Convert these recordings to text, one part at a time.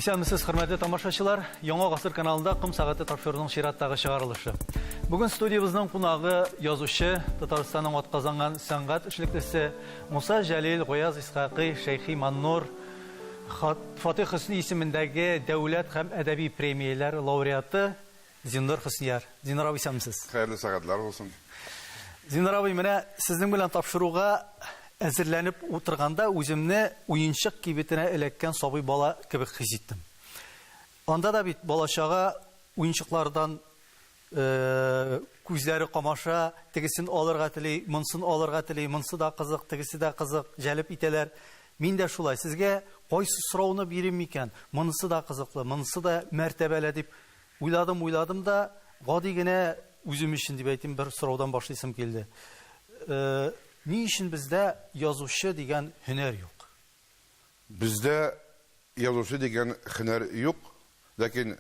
Исәнмесез, хөрмәтле тамашачылар. Яңа гасыр каналында Ком сәгате тапшыруының чираттагы чыгарылышы. Бүген студиябезнең кунагы язучы, Татарстанның атказанган сәнгать эшлеклесе Муса Җәлил, Гаяз Исхакый, Шәйхи Маннур, Хат Фатыйх Хөсни исемендәге дәүләт һәм әдәби премияләр лауреаты Зиннур Хөснияр. Зиннур абый, исәнмесез! Хәерле сәгатьләр булсын! Зиннур абый, менә сезнең белән тапшыруга әзерләнеп утырганда үземне уенчык кибетенә эләккән сабый бала кебек хис иттем. Анда да бит бала-чага уенчыклардан Күзләре камаша, тегесен алырга тели, монсын алырга тели, монсы да кызык, тегесе дә кызык, җәлеп итәләр. Мин дә шулай, сезгә кайсы сорауны бирим микән? Монысы да кызыклы, монысы да мәртәбәле, дип уйладым, уйладым да, гади генә үзем өчен дип әйтим, бер сораудан башлыйсым килде. Ни өчен бездә язучы дигән һөнәр юк? Бездә язучы дигән хенәр юк, ләкин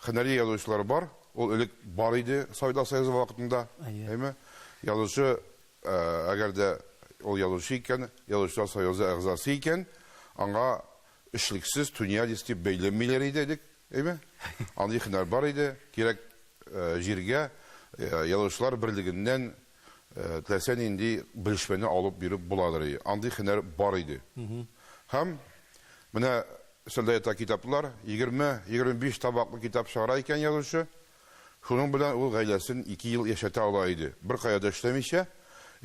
хенәри язучылар бар, ул элек бар иде Советлар Союзы вакытында, әйме? Язучы, әгәр дә ул язучы икән, язучылар союзы әгъзасы икән, аңа эшлексез, тунеядец дип бәйләмиләр иде элек, әйме? Андый хенәр бар иде, кирәк җиргә язучылар берлегеннән Теләсә нинди белешмәне алып биреп буладыр и андый һөнәр бар иде. Һәм менә өстәлдә ята китаплар, егерме-егерме биш табаклы китап чыгара икән язучы. Шуның белән ул гаиләсен ике ел яшәтә ала иде. Беркая да эшләмичә,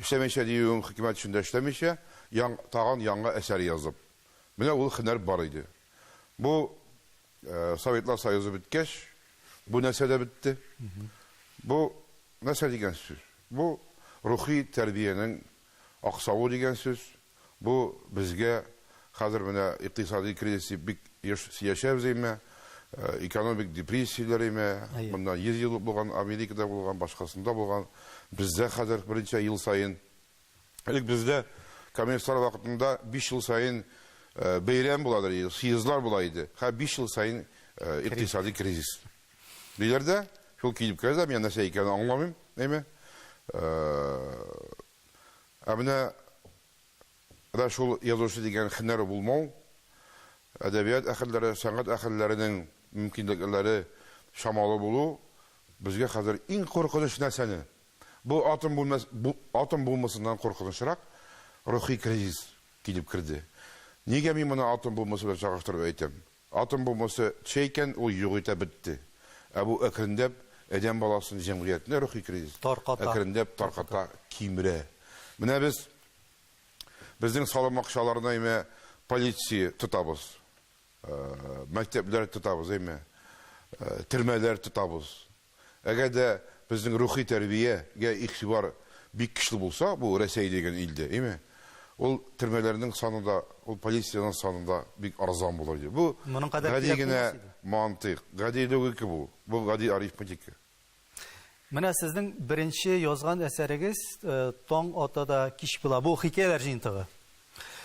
эшләмичә диюем, хөкүмәт эшендә эшләмичә, тагын яңа әсәр язып. Менә ул һөнәр бар иде. Бу Советлар Союзы беткәч, бу нәрсә дә бетте. Бу нәрсә дигән сүз? Бу рухи тәрбиянең аксавы дигән сүз. Бу безгә хәзер менә икътисадый кризис дип бик еш сөячәбез әйме, экономик депрессияләр әйме, моннан 100 ел булган Америкада булган, башкасында булган, бездә хәзер берничә ел саен Элек бездә комиссар вакытында биш ел саен бәйрәм буладыр иде, съездлар була иде. Һәр биш ел саен икътисади кризис. Диләр дә, шул килеп керә дә, мин нәрсә икәнен аңламыйм, әйме. Ә менә да шул язучы дигән хенәр булмау, әдәбият әһелләре, сәнгать әһелләренең мөмкинлекләре чамалы булу безгә хәзер иң куркыныч нәрсәне Бу атом бүлмәс бу атом бомбасыннан куркынычрак рухи кризис килеп керде. Нигә мин моны атом бомбасы белән чагыштырып әйтәм? Атом бомбасы төшә икән, ул юк итә, бетте. Ә бу әкренләп адәм баласын, җәмгыятьне рухи кризис Тарката. әкренләп тарката, кимерә. Менә без безнең саламакчаларны әйме полиция тотабыз, мәктәпләр тотабыз, әйме, төрмәләр тотабыз. Әгәр дә безнең рухи тәрбия гә игътибар бик көчле булса, бу Рәсәй дигән илдә, име, ул төрмәләрнең саны да, ул полициянең саны да бик арзан булыр иде. Бу гади генә мантыйк, гади логика бу. Бу гади арифметика. Менә сезнең беренче язган әсәрегез Таң ата да кич була. Бу хикәяләр җыентыгы.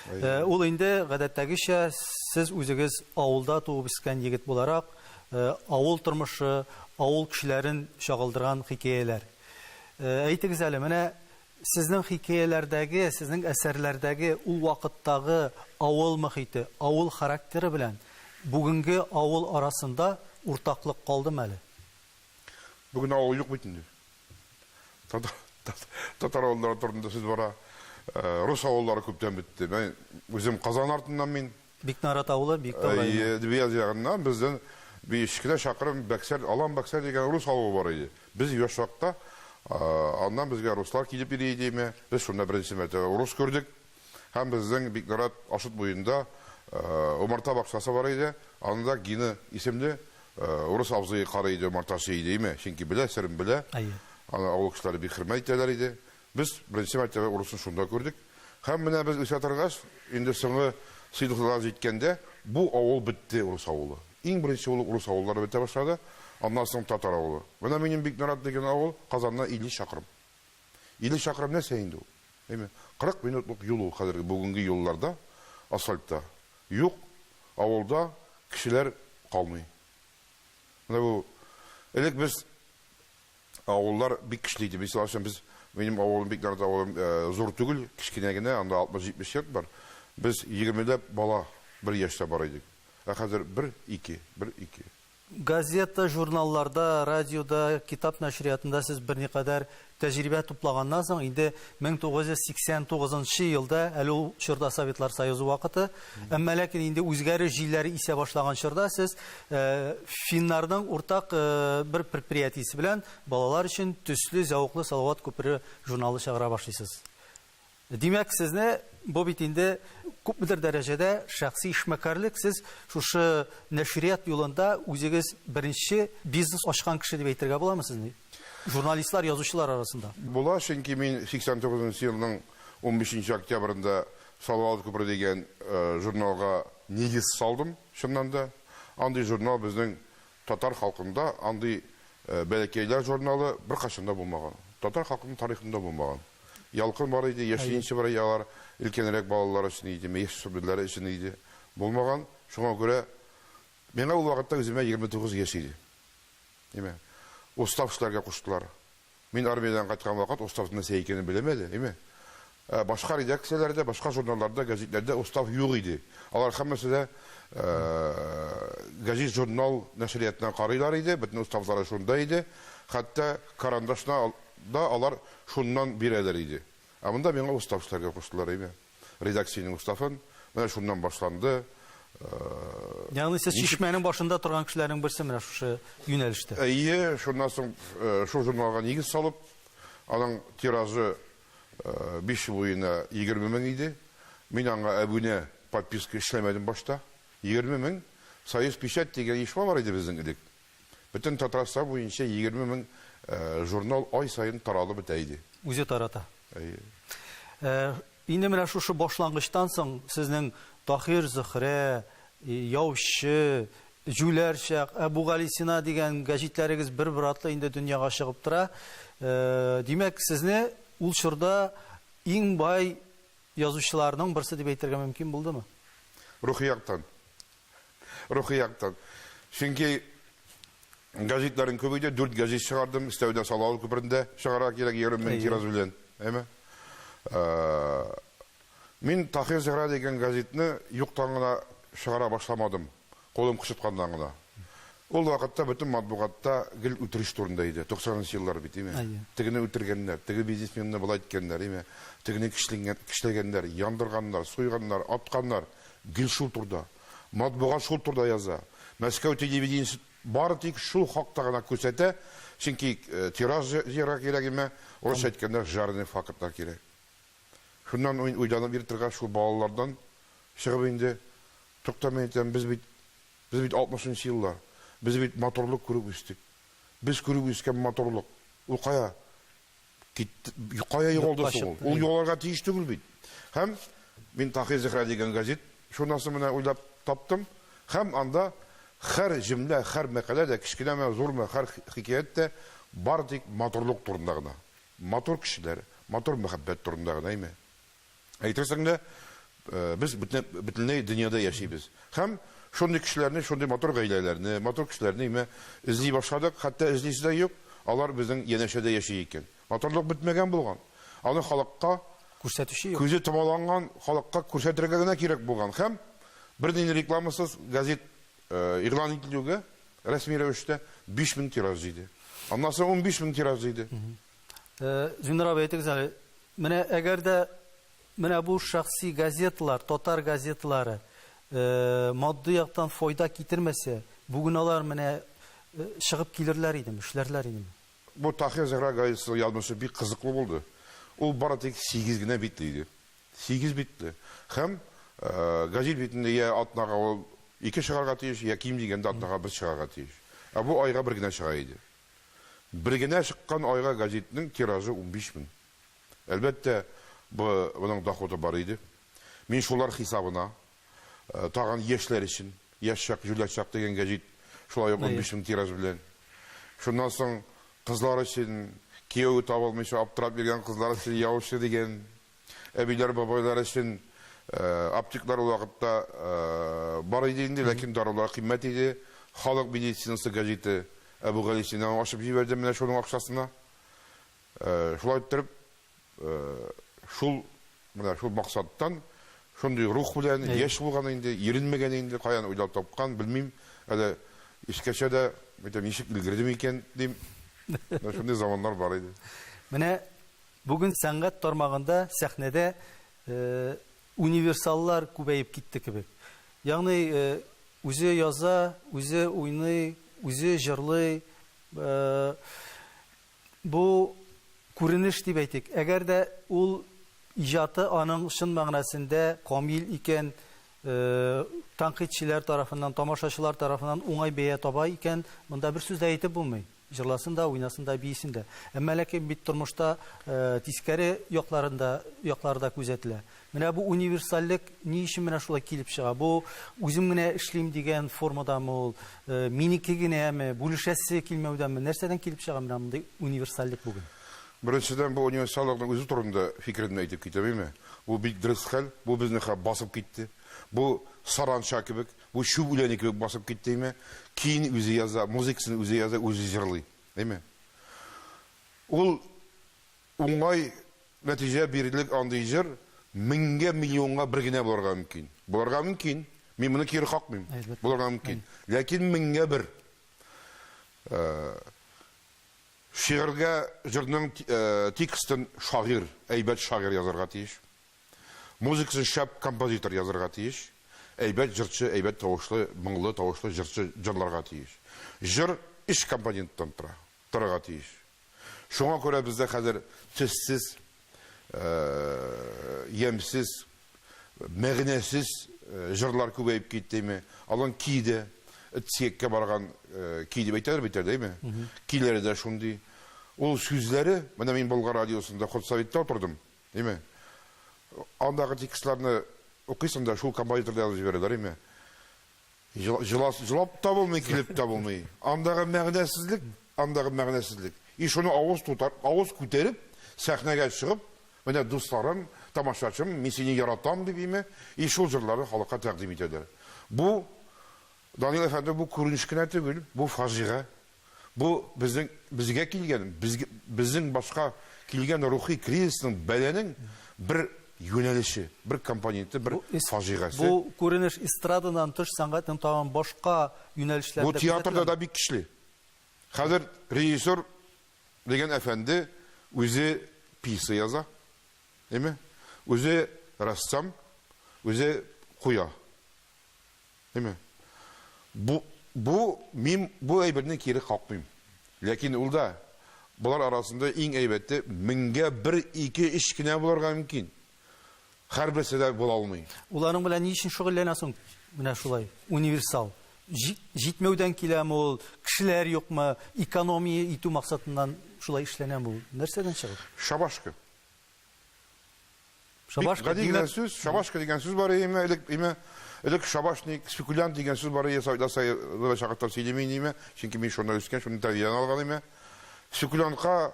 Ул инде, гадәттәгечә, сез үзегез авылда туып-үскән егет буларак, авыл тормышы, авыл кешеләрен чагылдырган хикәяләр. Әйтегез әле, менә сезнең хикәяләрдәге, сезнең әсәрләрдәге ул вакыттагы авыл мохите, авыл характеры белән бүгенге авыл арасында уртаклык калдымы әле? Бүген авыл юк бит инде. Татар авыллары турында сүз бара. Рус авыллары күптән бетте. Мин үзем Казан артыннан мин. Бикнарат авылы, Биектау районы. Әйе, Дебияз ягыннан бездән биш кенә чакрым Бәксәр, Алан Бәксәр дигән рус авылы бар иде. Без яшь чакта аннан безгә руслар килеп йөри иде име, без шунда беренче мәртәбә урыс күрдек. Һәм безнең Бикнарат Ашыт буенда умарта бакчасы бар иде. Анда Гина исемле урыс абзые карый иде, умарта ашый иде, име, чөнки белә, серен белә. Әйе. Аны авыл кешеләре бик хөрмәт итәләр иде. Без беренче мәртәбә урысны шунда күрдек. Һәм менә без үсә торгач, инде соңгы сыйныфларга җиткәндә, бу авыл бетте, урыс авылы. Иң беренче булып урыс авыллары бетә башлады, аннан соң татар авылы. Менә минем Бикнарат дигән авыл Казаннан 50 чакрым. 50 чакрым нәрсә инде ул? Әйме, 40 минутлык юл ул хәзерге бүгенге юлларда, асфальтта. Юк, авылда кешеләр калмый. Менә бу элек без авыллар бик көчле иде. Мисал өчен без минем авылым бик нарат авылым зур түгел, кечкенә генә, анда 60-70 йорт бар. Без егермеләп бала бер яшьтә бар идек. Ә хәзер бер, ике, бер, ике. Газета, журналларда, радиода, китап нәшриятында сез берникадәр тәҗрибә туплаганнан соң, инде 1989 нчы елда, әле ул чорда Советлар Союзы вакыты, әмма ләкин инде үзгәреш җилләре исә башлаган чорда сез финнарның уртак бер предприятиесе белән балалар өчен Төсле, зәвыклы Салават күпере журналы чыгара башлыйсыз. Димәк, сезне, бу бит инде күпмедер дәрәҗәдә шәхси эшмәкәрлек, сез шушы нәшрият юлында үзегез беренче бизнес ачкан кеше дип әйтергә буламы сезне? Журналистлар, язучылар арасында. Була, чөнки мин 89 нчы елның 15 нче октябрендә Салават күпере дигән журналга нигез салдым, чыннан да. Андый журнал безнең татар халкында, андый Бәләкәйләр журналы беркайчан да булмаган. Татар халкының тарихында булмаган. Ялкын бар иде, яшьлеен чыбырый алар, өлкәнрәк балалар өчен идеме, яшь шүберләре өчен иде, булмаган. Шуңа күрә миңа ул вакытта үземә егерме тугыз яшь иде. Име? Устав эшләргә куштылар. Мин армиядән кайткан вакыт устав нәрсә икәнен беләм әле, име? Ә башка редакцияләрдә, башка журналларда, гәҗитләрдә устав юк иде. Алар һәммәсе дә гәҗит-журнал нәшриятына карыйлар иде, бөтен уставлары шунда иде. Хәтта карандашны Да алар шуннан бирәләр иде. Ә монда миңа устав эшләргә куштылар, әйме. Редакциянең уставын. Менә шуннан башланды. Ягъни сез Чишмәнең башында торган кешеләрнең берсе менә шушы юнәлештә? Әйе, шуннан соң шул журналга нигез салып, аның тиражы биш ел буена егерме мең иде. Мин аңа әбүнә, подписка, эшләмәдем башта. Егерме мең. Союзпечать дигән оешма бар иде безнең элек. Бөтен Татарстан буенча егерме мең журнал ай саен таралып бетә иде. Үзе тарата. Әйе. Инде менә шушы башлангычтан соң сезнең Таһир Зөһрә, Яучы, Җүләр чак, Әбүгалисина дигән гәҗитләрегез бер-бер артлы инде дөньяга чыгып тора. Димәк, сезне ул чорда иң бай язучыларның берсе дип әйтергә мөмкин булдымы? Рухи яктан. Рухи яктан. Чөнки гәҗитләрен күп иде, дүрт гәҗит чыгардым, өстәвенә Салават күперендә чыгарга кирәк 20 мең тираж белән. Әйме? Мин Таһир Зөһрә дигән гәҗитне юктан гына чыгара башламадым, кулым кычытканнан гына. Ул вакытта бөтен матбугатта гел үтереш турында иде, 90 нчы еллар бит, әйме? Тегене үтергәннәр, теге бизнесменны болай иткәннәр, әйме? Тегене кешли, кешеләгәннәр, яндырганнар, суйганнар, атканнар. Гел шул турда. Матбугат шул турда яза. Мәскәү телевидениесе бары тик шул хакта гына күрсәтә, чөнки тираж җыярга кирәк имә, урысча әйткәндә, жареный фактлар кирәк. Шуннан мин уйланып йөри торгач, шул балалардан чыгып инде, тукта, мин әйтәм, без бит, без бит алтмышынчы еллар, без бит матурлык күреп үстек. Без күреп үскән матурлык, ул кая? Китте. Кая югалды соң ул? Ул югалырга тиеш түгел бит. Һәм мин Тахир Зехра дигән газет журнасын менә уйлап таптым. Һәм анда хәр җөмлә, хәр мәкалә дә, кечкенәме, зурмы, хәр хикәят тә бары тик матурлык турында гына. Матур кешеләр, матур мәхәббәт турында гына име? Әйтерсең лә, без бөтенләй дөньяда яшибез. Һәм шундый кешеләрне, шундый матур гаиләләрне, матур кешеләрне имә эзли башладык, хәтта эзлисе дә юк, алар безнең янәшәдә яши икән. Матурлык бетмәгән булган. Аны халыкка күрсәтүче юк. Күзе томаланган халыкка күрсәтергә генә кирәк булган. Һәм бернинди рекламасыз газет игълан ителүгә, рәсми рәвештә 5000 тираж җыйды. Аннан соң 15000 тираж җыйды. Зиннур абый, әйтегез әле, менә әгәр дә менә бу шәхси газеталар, татар газеталары матди яктан файда китермәсә, бүген алар менә чыгып килерләр идеме, эшләрләр идеме? Бу Таһир Зөһрә газетасы язмышы бик кызыклы булды. Ул бары тик сигез генә битле иде. Сигез битле. Һәм газет битендә йә атнага ул ике чыгарга тиеш, йә ким дигәндә атнага бер чыгарга тиеш. Ә бу айга бер генә чыга иде. Бер генә чыккан айга гәзитнең тиражы унбиш мең. Әлбәттә, бы бының доходы бар иде. Мин шулар хисабына, тагын яшьләр өчен, Яшь чак, җүләр чак дигән гәзит шулай ук унбиш мең тираж белән. Шуннан соң кызлар өчен, кияү таба алмыйча аптырап йөргән кызлар өчен Яучы дигән Әбиләр, бабайлар өчен аптеклар ул вакытта бар иде инде, ләкин дарулар кыйммәт иде. Халык медицинасы газеты Әбүгалисинаны ачып җибәрде менә шуның акчасына. Шулай иттереп, шул менә шул максаттан шундый рух белән яшь булган инде, иренмәгән инде, каян уйлап тапкан, белмим. Әле искәчә дә әйтәм, ничек өлгердем икән, дим. Менә шундый заманнар бар иде. Менә Бүген сәнгать тармагында сәхнәдә универсаллар күбәеп китте кебек. Ягъни үзе яза, үзе уйный, үзе җырлый. Бу күренеш дип әйтик. Әгәр дә ул иҗаты аның чын мәгънәсендә камил икән, тәнкыйтьчеләр тарафыннан, тамашачылар тарафыннан уңай бәя таба икән, монда бер сүз дә әйтеп булмый. Җырласын да, уйнасын да, биисен дә. Әмма ләкин бит тормышта тискәре якларын да, яклары да күзәтелә. Менә бу универсальлек ни өчен менә шулай килеп чыга? Бу үзем генә эшлим дигән формадамы ул, минеке генәме, бүлешәсе килмәүдәме, нәрсәдән килеп чыга менә мондый универсальлек бүген? Беренчедән, бу универсальлыкның үзе турында фикеремне әйтеп китәм, әйме? Бу бик дөрес хәл, бу безне хәп басып китте. Бу саранча кебек. Бу чүп үләне кебек басып киттеме? Көен үзе яза, музыкасын үзе яза, үзе җырлый. Әйме? Ул уңай нәтиҗә бирерлек андый җыр меңгә, миллионга бер генә булырга мөмкин. Булырга мөмкин. Мин моны кире какмыйм. Булырга мөмкин. Ләкин меңгә бер. Шигырьгә, җырның текстын шагыйрь, әйбәт шагыйрь язарга тиеш. Музыкасын шәп композитор язырга тиеш. Әйбәт җырчы, әйбәт тавышлы, моңлы тавышлы җырчы җырларга тиеш. Җыр өч компоненттан тора, торырга тиеш. Шуңа күрә бездә хәзер төссез, ямьсез, мәгънәсез җырлар күбәеп киттеме. Алан ки дә, дскеккә барган ки дип әйтәләр бит әле, әйме? Киләре дә шундый. Ул сүзләре, менә мин Болгар радиосында худсоветта утырдым, Име? Андагы текстларны укыйсың да шул композиторда язып җибәрәләр име? Җылас, җылап та булмый, килеп тә булмый. Андагы мәгънәсезлек, андагы мәгънәсезлек. И шуны авыз тутар, авыз күтәреп, сәхнәгә чыгып, менә дусларым, тамашачым, мин сине яратам дип име? И шул җырларны халыкка тәкъдим итәләр. Бу Данил әфәнде, бу күренеш кенә түгел, бу фаҗига. Бу, безнең, безгә килгән, безг, безнең башка килгән рухи кризисның, бәланең бер юнәлеше, бер компоненты, бер Бу эс, фаҗигасе. бу күренеш эстрададан тыш сәнгатьнең тагын башка юнәлешләрендә Бу театрда күзәтеләме? да бик көчле. Хәзер режиссер дигән әфәнде үзе пьеса яза, әйме, үзе рәссам, үзе куя. Әйме. Бу, бу, мин бу әйберне кире какмыйм. Ләкин ул да, болар арасында иң әйбәте, меңгә бер, ике, өч кенә булырга мөмкин. Хәрберсе дә була алмый. Ул аның белән ни өчен шөгыльләнә соң менә шулай, универсал? Җи, җитмәүдән киләме ул, кешеләр юкмы, экономия итү максатыннан шулай эшләнәме ул? Нәрсәдән чыгып? Шабашка. Шабашка, гади генә сүз, шабашка дигән сүз бар име, элек име, элек шабашник, спекулянт дигән сүз бар иде, Саида Саидова чакыртам сөйлим инде име, чөнки мин шунда үскән, шуны тәрбиялән алган име. Спекулянтка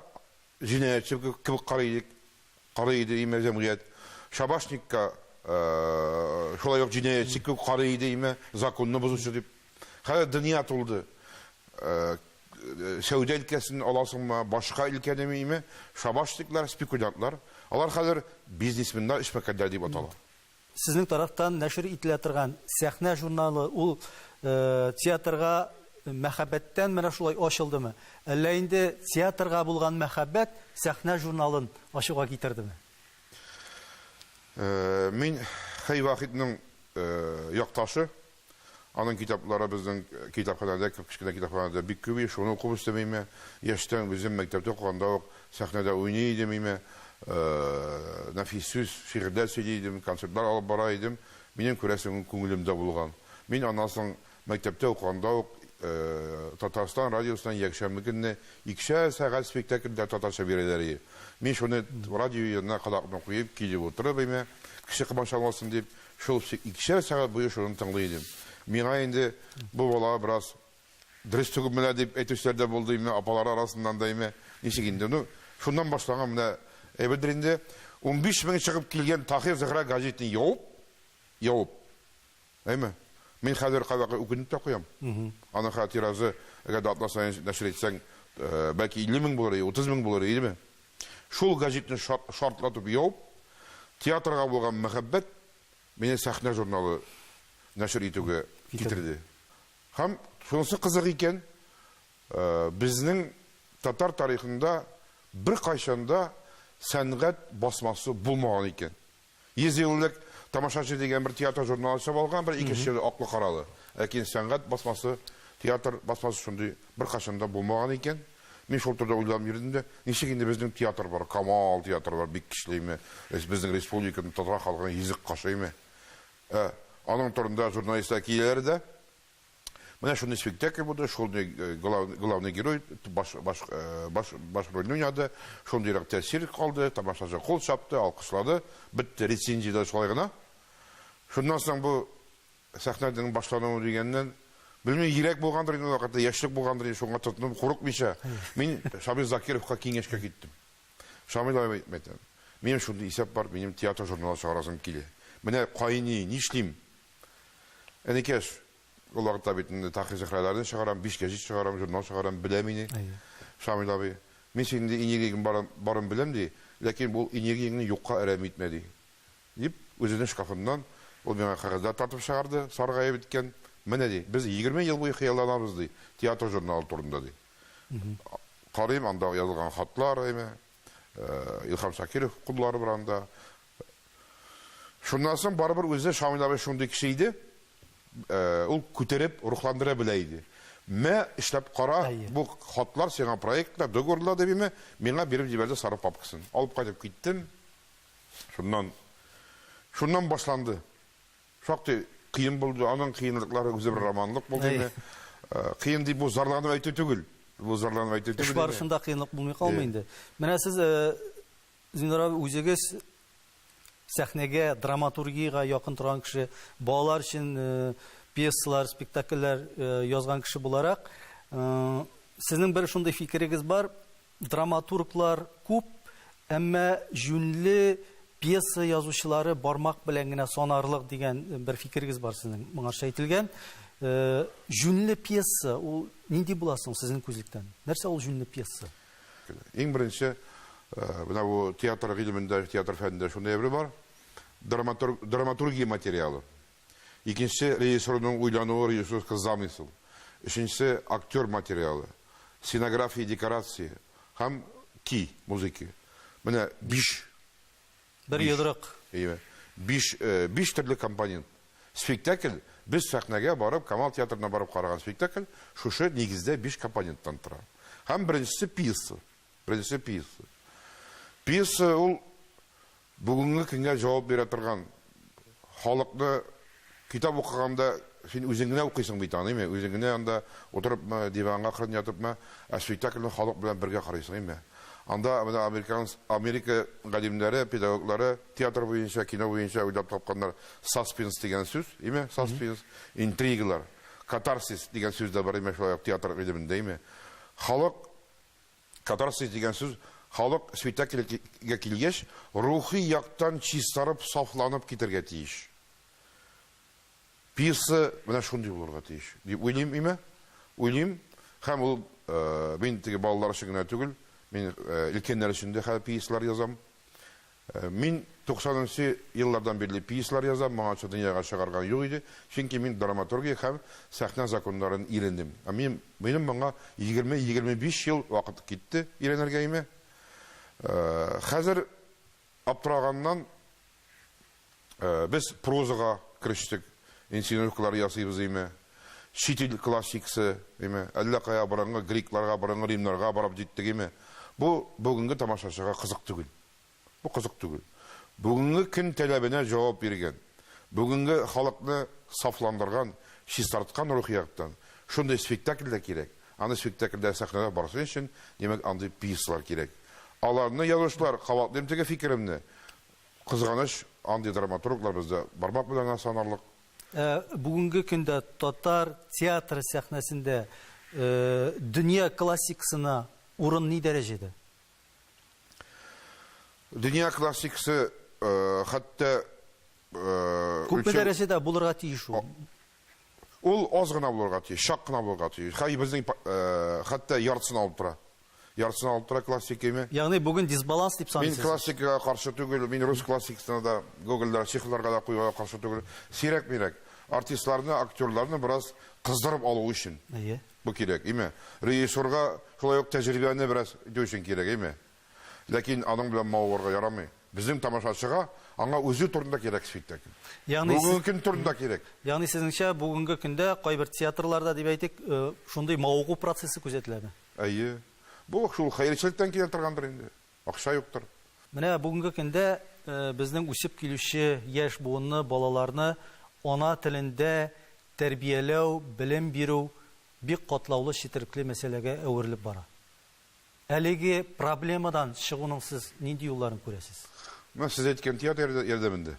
җинаятьче кебек карый идек, карый иде име җәмгыять. Шабашникка э, шулай ук җинаятьче кебек карый иде име, законны бозучы дип. Хәзер дөнья тулды. Сәүдә өлкәсен аласыңмы, башка өлкәне миме, шабашниклар, спекулянтлар, алар хәзер бизнесменнар, эшмәкәрләр дип атала. Сезнең тарафтан нәшер ителә торган Сәхнә журналы ул театрга мәхәббәттән менә шулай ачылдымы? Әллә инде театрга булган мәхәббәт Сәхнә журналын ачуга китердеме? Мин Хәй Вахитның якташы. Аның китаплары безнең китапханәдә, кечкенә китапханәдә бик күп иде, шуны укып үстем име. Яшьтән үзем мәктәптә укыганда ук сәхнәдә уйный идем име. Нәфис сүз, шигырьләр сөйли идем, концертлар алып бара идем. Минем, күрәсең, күңелемдә булган. Мин аннан соң мәктәптә укыганда ук Татарстан радиосыннан якшәмбе көнне икешәр сәгать спектакльләр татарча бирәләр иде. Мин шуны радио янына колакны куеп, килеп утырып име, кеше комачаламасын дип, Шул икешәр сәгать буе шуны тыңлый идем. Миңа инде бу бала бераз дөрес түгелме лә дип әйтүчеләр дә булды име, апалары арасыннан да име, ничек инде. Ну, шуннан башланган менә әйбердер инде. Унбиш мең чыгып килгән Таһир-Зөһрә гәҗитен явып, явып, әйме, мин хәзер кайвакыт үкенеп тә куям. Аның хәзер тиражы, әгәр дә атна саен нәшер итсәң, бәлки илле мең булыр иде, утыз мең булыр идеме? Шул гәҗитне шартлатып яуып, театрга булган мәхәббәт мине Сәхнә журналы нәшер итүгә китерде. Һәм, шунысы кызык икән, безнең татар тарихында беркайчан да сәнгать басмасы булмаган икән. Йөз еллык тамашачы дигән бер театр журналы чыгып алган, бер ике чир аклы-каралы. Ләкин сәнгать басмасы, театр басмасы шундый беркайчан да булмаган икән. Мин шул турыда уйланып йөрдем дә, ничек инде безнең театр бар, Камал театры бар, бик көчлеме, безнең республиканың татар халкының йөзек кашыймы? Ә аның турында журналистлар киләләр дә, Менә шундый спектакль булды, шундый э, главный герой баш, баш, э, баш, баш рольне уйнады, шундыйрак тәэсир калды, тамашачы кул чапты, алкышлады, бетте рецензияләр шулай гына. Шуннан соң бу сәхнәнең башлануы дигәннән, белмим, йөрәк булгандыр инде вакытта, яшьлек булгандыр инде, шуңа тотынып курыкмыйча, мин Шамил Закировка киңәшкә киттем. Шамил абый әйтмәдем. Минем шундый исәп бар, минем театр журналы чыгарасым килә. Менә кайни, нишлим? Энекәш, ул вакытта бит инде Тахи-Зөһрәләрне чыгарам, биш гәҗит чыгарам, журнал чыгарам, белә мине. Әйе. Шамил абый, мин синең ди энергияң барын, барын беләм, ди, ләкин бу энергияңне юкка әрәм итмә, ди. Дип, үзенең шкафыннан ул миңа кәгазьләр тартып чыгарды, саргаеп беткән. Менә, ди, без егерме ел буе хыялланабыз, ди, театр журналы турында, ди. Карыйм, анда язылган хатлар, әйме, Илһам Шакиров куллары бар анда. Шуннан соң барыбер үзе Шамил абый шундый кеше иде, ул күтәреп, рухландыра белә иде. Мә, эшләп кара, бу хатлар сиңа проектта, договорда, дип име, миңа биреп җибәрде сары папкасын. Алып кайтып киттем. Шуннан, шуннан башланды. Шактый кыен булды, аның кыенлыклары үзе бер романлык булды инде. Кыен дип бу зарланып әйтү түгел. Бу зарланып әйтү түгел. Эш барышында кыенлык булмый калмый инде. Менә сез Зиннур абый, үзегез сәхнәгә, драматургиягә якын торган кеше, балалар өчен пьесалар, спектакльләр язган кеше буларак, сезнең бер шундый фикерегез бар, драматурглар күп, әмма җүнле пьеса язучылары бармак белән генә санарлык дигән бер фикерегез бар сезнең. Моңарча әйтелгән, җүнле пьеса ул нинди була соң сезнең күзлектән? Нәрсә ул җүнле пьеса? Иң беренче, менә бу театр гыйлемендә, театр фәнендә шундый әйбер бар, драматург, драматургия материалы. Икенче, режиссерның уйлануы, режиссерский замысел. Өченчесе, актер материалы, сценография, декорация һәм ки, музыки. Менә биш Бер Биш. йодрык. Әйе. Биш, э, биш төрле компонент. Спектакль, без сәхнәгә барып, Камал театрына барып караган спектакль, шушы нигездә биш компоненттан тора. Һәм беренчесе пьеса. Беренчесе пьеса. Пьеса ул бүгенге көнгә җавап бирә торган халыкны китап укыганда син үзең генә укыйсың бит аны, әйме? Үзең генә анда утырыпмы, диванга кырын ятыпмы, ә спектакльне халык белән бергә карыйсың, әйме? Анда менә американс, Америка галимнәре, педагоглары театр буенча, кино буенча уйлап тапканнар саспенс дигән сүз, әйме? Саспенс, интригалар, катарсис дигән сүз дә бар, әйме, шулай ук театр гыйлемендә, әйме? Халык. Катарсис дигән сүз халык спектакльгә килгәч рухи яктан чистарып, сафланып китәргә тиеш. Пьеса менә шундый булырга тиеш, дип уйлыйм име, уйлыйм. Һәм ул мин теге балалар өчен генә түгел, мин өлкәннәр өчен дә хәзер пьесалар язам. Мин туксанынчы еллардан бирле пьесалар язам, моңарчы дөньяга чыгарган юк иде, чөнки мин драматургия һәм сәхнә законнарын өйрәндем. Ә мин, минем моңа егерме-егерме биш ел вакыт китте өйрәнергәемә. Хәзер аптыраганнан без прозага керештек, инсценировкалар ясыйбыз име, чит ил классиксы име, әллә кая борынгы грекларга, борынгы римнарга барып җиттек име, бу бүгенге тамашачыга кызык түгел. Бу кызык түгел. Бүгенге көн таләбенә җавап биргән, бүгенге халыкны сафландырган, чистарткан рухи яктан, шундый спектакль дә кирәк. Аны спектакльләр сәхнәдә барсын өчен, димәк, андый пьесалар кирәк. Аларны язучылар, кабатлыйм теге фикеремне, кызганыч, андый драматурглар бездә бармак белән генә санарлык. Ә бүгенге көндә татар театры сәхнәсендә дөнья классикасына урын ни дәрәҗәдә? Дөнья классикасы хәтта Күпме дәрәҗәдә булырга тиеш ул? Ул аз гына булырга тиеш, чак кына булырга тиеш. Хәй безнең хәтта яртысын алып тора. Яртысын алып тора классикиме? Ягъни бүген дисбаланс дип саныйсыз? Мин классикага каршы түгел, мин рус классикасына да, Гогольдә, Чеховларга да куюга каршы түгел. Сирәк-мирәк артистларны, актерларны бераз кыздырып алу өчен. Әйе. Бу кирәк, име? Режиссёрга шулай ук тәҗрибәне бераз итү өчен кирәк, име? Ләкин аның белән мавыгарга ярамый. Безнең тамашачыга аңа үзе турында кирәк спектакль. Ягъни сез Бүгенге көн турында кирәк. Ягъни сезнеңчә, бүгенге көндә кайбер театрларда, дип әйтик, шундый мавыгу процессы күзәтеләме? Әйе. Бу шул хәерчелектән килә торгандыр инде. Акча юктыр. Менә бүгенге көндә безнең үсеп килүче яшь буынны, балаларны ана телендә тәрбияләү, белем бирү бик катлаулы, четерекле мәсьәләгә әверелеп бара. Әлеге проблемадан чыгуның сез нинди юлларын күрәсез? Менә сез әйткән театр ярдәмендә.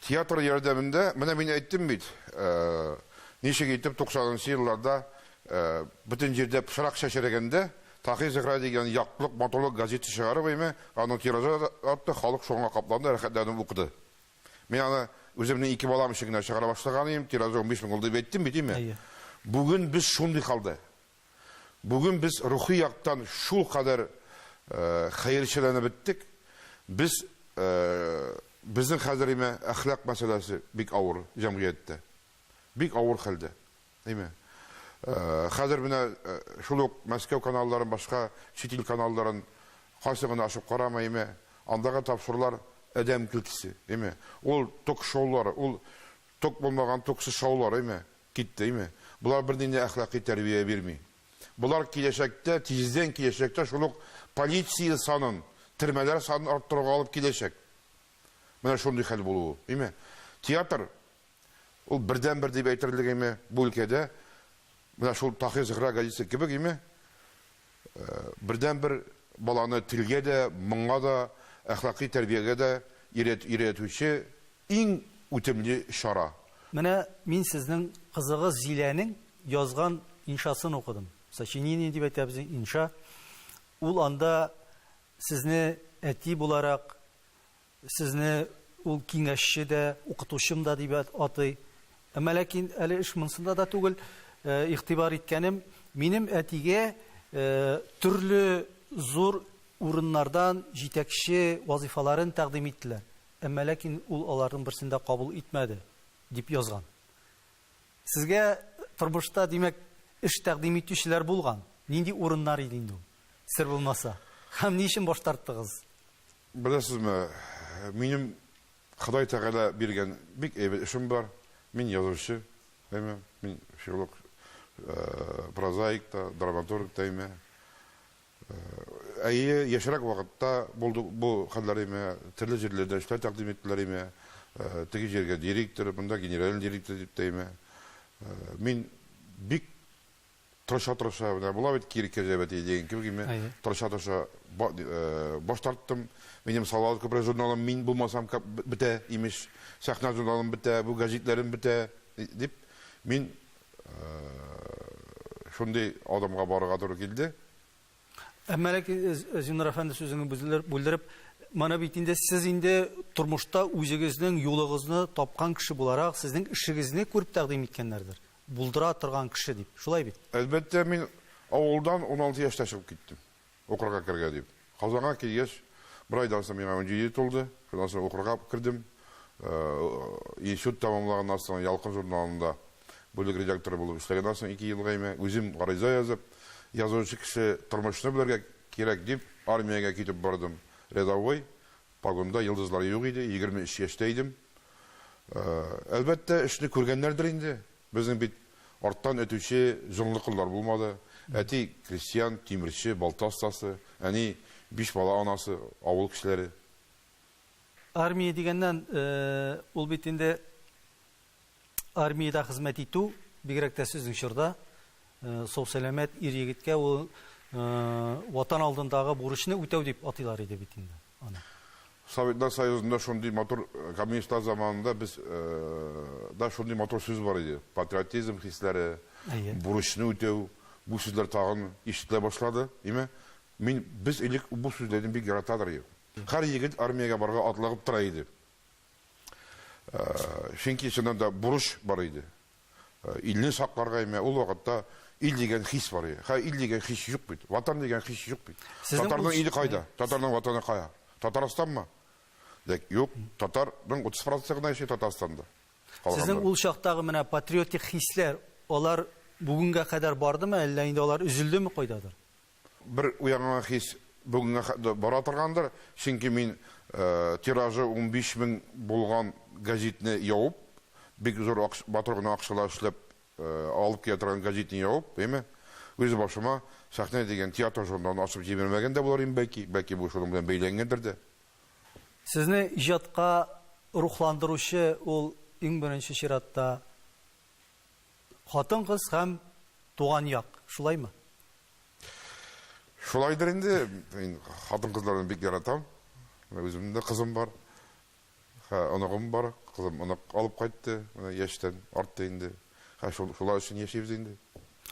Театр ярдәмендә, менә мин әйттем бит, ничек итеп 90 нчы елларда бөтен җирдә пычрак чәчрәгәндә, Таһи-Зөһрә дигән яктылык, матурлык газеты чыгарып, әйме, аның тиражы артты, халык шуңа капланды, рәхәтләнеп укыды. Мин аны үземнең ике балам өчен генә чыгара башлаган идем, тиражы унбиш мең ул дип әйттем бит, әйме? Әйе. Бүген без шундый хәлдә. Бүген без рухи яктан шулкадәр хәерчеләнеп беттек, без безнең хәзер име әхлак мәсьәләсе бик авыр җәмгыятьтә. Бик авыр хәлдә. Име. Хәзер менә шул ук Мәскәү каналларын, башка чит ил каналларын кайсын гына ачып карама име, андагы тапшырулар адәм көлкесе. Име. Ул ток-шоулар, ул ток булмаган токсыз шаулар име. Киттеме? Болар бернинди әхлакый тәрбия бирми. Болар киләчәктә, тиздән киләчәктә шул ук полиция санын, термәләр санын арттыруга алып киләчәк. Менә шундый хәл булуы. Име? Театр, ул бердәнбер дип әйтерлек име бу өлкәдә, менә шул Таһир-Зөһрә газисе кебек име? Бердәнбер баланы телгә дә, моңга да, әхлакый тәрбиягә дә өйрәтүче иң үтемле чара. Менә мин сезнең кызыгыз Зиләнең язган иншасын укыдым. Сочинение дип әйтәбез инша. Ул анда сезне әти буларак, Сезне ул киңәшче дә, укытучым да дип атый. Әмма ләкин әле эш монсында да түгел. Игътибар иткәнем, минем әтигә төрле зур урыннардан җитәкче вазыйфаларын тәкъдим иттеләр, әмма ләкин ул аларның берсен дә кабул итмәде, дип язган. Сезгә тормышта, димәк, эш тәкъдим итүчеләр булган. Нинди урыннар иде инде ул, сер булмаса? Һәм ни өчен баш тарттыгыз? Беләсезме, минем Ходай Тәгалә биргән бик әйбәт эшем бар. Мин язучы, әйме, мин филолог, прозаик та, драматург та, әйме. Әйе, яшьрәк вакытта булды бу хәлләр, әйме, төрле җирләрдә эшләр тәкъдим иттеләр, әйме, теге җиргә директор, монда генеральный директор дип тә, әйме. Мин бик. тырыша-тырыша, менә була бит кире кәҗә бәтие дигән кебек, мин тырыша-тырыша баш тарттым. Минем Салават күпере журналым мин булмасам бетә, имеш. Сәхнә журналым бетә, бу гәҗитләрем бетә, дип, мин шундый адымга барырга туры килде. Әмма ләкин, Зиннур әфәнде, сүзеңне бүлдереп, моны бит инде сез инде тормышта үзегезнең юлыгызны тапкан кеше буларак, сезнең эшегезне күреп тәкъдим иткәннәрдер. Булдыра торган кеше дип. Шулай бит? Әлбәттә, мин авылдан уналты яшьтә чыгып киттем. Укырга керергә дип. Казанга килгәч, бер айдан соң миңа унҗиде тулды. Шуннан соң укырга кердем. Институт тәмамлаганнан соң Ялкын журналында бүлек редакторы булып эшләгәннән соң ике ел гайме, үзем гариза язып, язучы кеше тормышны белергә кирәк дип, армиягә китеп бардым. Рядовой, погонда йолдызлар юк иде, егерме өч яшьтә идем. Әлбәттә, эшне күргәннәрдер инде. Безнең бит арттан этүче җонлы кыллар булмады. Әти крестьян, тимерче, балта остасы, әни биш бала анасы, авыл кешеләре. Армия дигәннән, ул бит инде армиядә хезмәт итү, бигрәк тә сезнең чорда, сау-сәламәт ир-егеткә ул Ватан алдындагы бурычны үтәү дип атыйлар иде бит инде. аны. Советлар Союзында шундый матур, коммунистлар заманында без да шундый матур сүз бар иде. Патриотизм хисләре, бурычны үтәү, бу сүзләр тагын ишетелә башлады. Име? Мин, без элек бу сүзләрне бик яратадыр идек. Һәр егет армиягә барырга атлыгып тора иде. Чөнки чыннан да бурыч бар иде. Илне сакларга имя, ул вакытта ил дигән хис бар иде. Хәзер ил дигән хис юк бит. Ватан дигән хис юк бит. Татарның иле кайда? Татарның ватаны кая? Татарстанмы? Дәк, юк, татарның 30% гына яши Татарстанда. Сезнең ул чактагы менә патриотик хисләр, алар бүгенгә кадәр бардымы, әллә инде алар өзелдеме кайдадыр? Бер уянган хис бүгенгә хәтле бара торгандыр, чөнки мин тиражы унбиш мең булган гәзитне ябып, бик зур акча, матур гына акчалар эшләп алып килә торган гәзитне ябып, әйме, үз башыма Сәхнә дигән театр журналын ачып җибәрмәгән дә булыр идем, бәлки, бәлки бу шуның белән бәйләнгәндер дә. Сезне иҗатка рухландыручы ул иң беренче чиратта Хатын-кыз һәм туган як, шулаймы? Шулайдыр инде, мин хатын-кызларны бик яратам. Менә үземнең дә кызым бар. Хә, оныгым бар. Кызым онык алып кайтты. Менә яшьтән артты инде. Хә, шул, шулар өчен яшибез инде.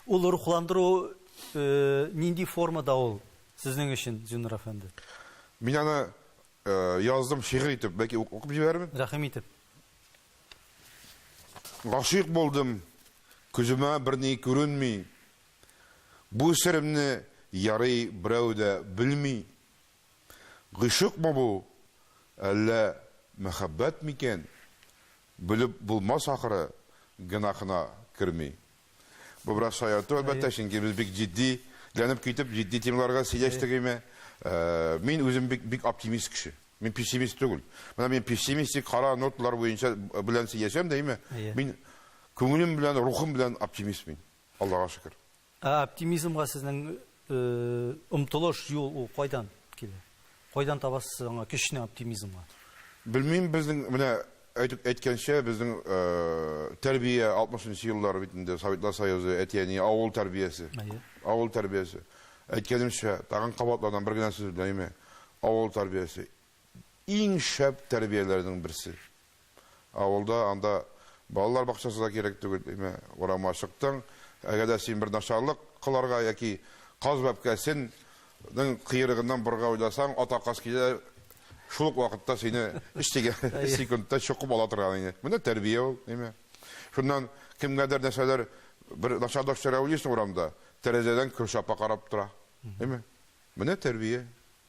Ул рухландыру э, нинди формада ул сезнең өчен, Зиннур әфәнде? Мин аны э, яздым шигырь итеп, бәлки укып җибәрермен. Рәхим итеп. Гашыйк булдым, күземә берни күренми, Бу серемне, ярый, берәү дә белми. Гыйшыкмы бу, әллә мәхәббәт микән, Белеп булмас ахры, гөнаһына керми. Бу бераз шаярту, әлбәттә, чөнки без бик җитди ләнеп китеп, җитди темаларга сөйләштек име. Э, мин үзем бик, бик оптимист кеше. Мин пессимист түгел. Менә мин пессимистик кара ноталар буенча э, белән сөйләшәм дә, име? Мин күңелем белән, рухым белән оптимист мин. Аллага шөкер. Ә оптимизмга сезнең Омтылыш, юл ул кайдан килә? Кайдан табасыз сез аңа көчне, оптимизмга? Белмим, безнең менә әйтеп әйткәнчә, безнең тәрбия 60 нчы еллар бит инде, Советлар Союзы, әти-әни, авыл тәрбиясе. Әйе. Авыл тәрбиясе. Әйткәнемчә, тагын кабатланам, бер генә сүз белән, әйме? Авыл тәрбиясе. иң шәп тәрбияләрнең берсе. Авылда анда балалар бакчасы да кирәк түгел, әйме, урамга чыктың, әгәр дә син бер начарлык кыларга яки каз бәбкәсен нең кыерыгыннан борырга уйласаң, ата каз килә, шул ук вакытта сине өч тигә секундта чокып ала торган иде. Менә тәрбия ул, әйме. Шуннан кемгәдер нәрсәләр бер начарлык чыра уйлыйсың урамда, тәрәзәдән Көршапа карап тора, әйме. Менә тәрбия.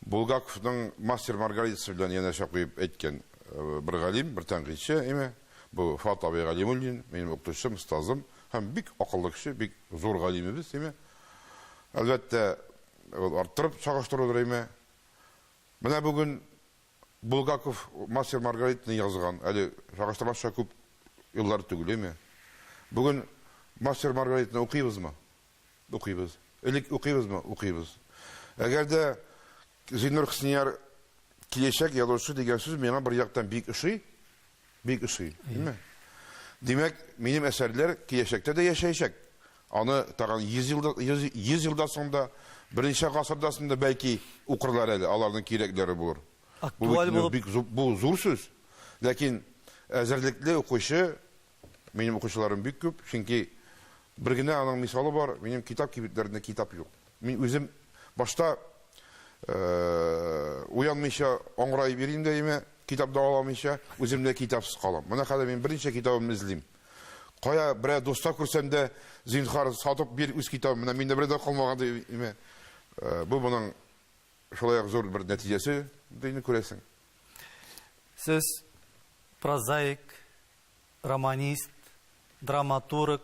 Булгаковның Мастер Маргаритасы белән янәшә куеп әйткән бер галим, бер тәнкыйтьче, әйме, бу Фат абый Галимуллин, минем укытучым, остазым һәм бик акыллы кеше, бик зур галимебез, әйме. Әлбәттә, ул арттырып чагыштырудыр, әйме. Менә бүген Булгаков Мастер Маргаританы язган, әле чагыштырмакча күп еллар түгел, әйме. Бүген Мастер Маргаританы укыйбызмы? Укыйбыз. Элек укыйбызмы? Укыйбыз. Әгәр дә Зиннур Хөснияр киләчәк язучы дигән сүз миңа бер яктан бик ошый, бик ошый, димме? Димәк, минем әсәрләр киләчәктә дә яшәячәк. Аны тагын 100 елда, 100, 100 елда соң да, берничә гасырда соң да бәлки укырлар әле, аларның кирәкләре булыр. Бу Актуаль бит булып. бик зу- бу зур сүз. Ләкин әзерлекле укучы Минем укучыларым бик күп, чөнки бер генә аның мисалы бар, минем китап кибетләрендә китап юк. Мин үзем башта уянмыйча аңгыраеп йөрим дә имә, китап да аламыйча, үзем дә китапсыз калам. Менә хәзер мин берничә китабым эзлим. Кая берәр дуста күрсәм дә, зинхар сатып бир үз китабым, менә миндә бердә калмаган ди имә. Бу моның шулай ук зур бер нәтиҗәсе, дине күрәсең. Сез прозаик, романист, драматург,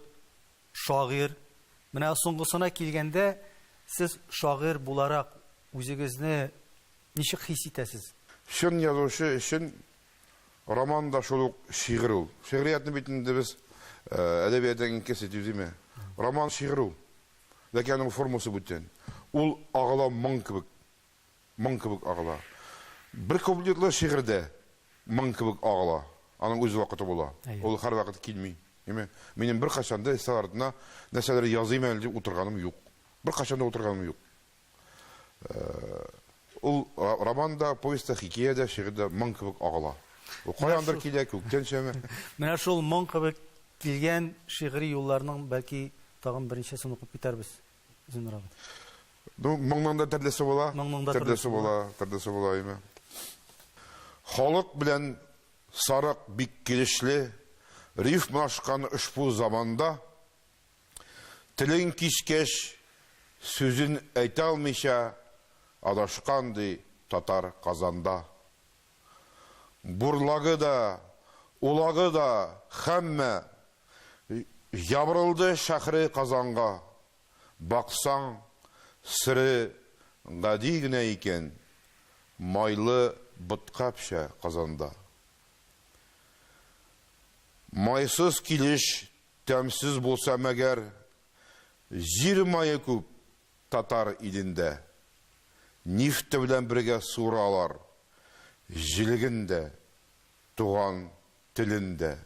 шагыйрь. Менә соңгысына килгәндә, сез шагыйрь буларак үзегезне ничек хис итәсез? Чын язучы өчен роман да шул ук шигырь ул. Шигъриятне бит инде без әдәбиятның иң кесе дип димә. Роман шигырь ул. Ләкин аның формасы бүтән. Ул агыла моң кебек. моң кебек агыла. Бер куплетлы шигырьдә моң кебек агыла. Аның үз вакыты була. Ул һәрвакыт килми. Әйме? Минем беркайчан да өстәл артына нәрсәдер языйм әле дип утырганым юк. Беркайчан да утырганым юк. Ул роман да, повесть та, хикәя дә, шигырь дә моң кебек агыла. Ул каяндыр килә, күктән төшәме? Менә шул моң кебек килгән шигъри юлларның, бәлки, тагын берничәсен укып китәрбез. Зинрабы. Ну, моңның да төрлесе була. Моңның да төрлесе була, төрлесе була име. Халык белән сарык бик килешле, рифма ашкан ошбу заманда телең кичкәч сүзен әйтә алмыйча адашкан ди татар Казанда. Бурлагы да, улагы да, һәммә Ябырылды шәһри Казанга. Баксаң, сере гади генә икән, Майлы ботка пешә казанда. Майсыз килеш тәмсез булса мәгәр, Җир мае күп, Татар илендә. Нефте белән бергә суыралар җелеген дә, туган телен дә.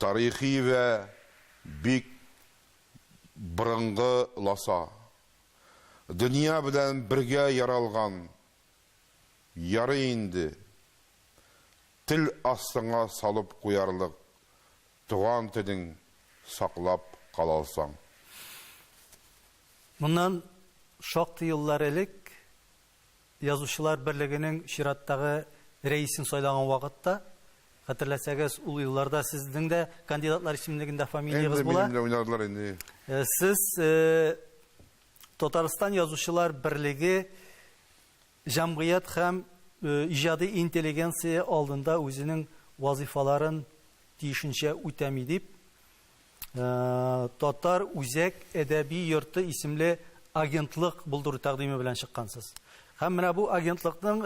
Тарихи вә бик борынгы ласа. Дөнья белән бергә яралган. Ярый инде. Тел астыңа салып куярлык Туган телең саклап калалсаң. Моннан шактый еллар элек Язучылар берлегенең чираттагы рәисен сайлаган вакытта, хәтерләсәгез, ул елларда сезнең дә кандидатлар исемлегендә фамилиягез була. Инде минем дә уйнадылар инде. Сез Татарстан Язучылар берлеге Җәмгыять һәм иҗади интеллигенция алдында үзенең вазыйфаларын тиешенчә үтәми, дип, Татар үзәк әдәби йорты исемле агентлык булдыру тәкъдиме белән чыккансыз. Һәм менә бу агентлыкның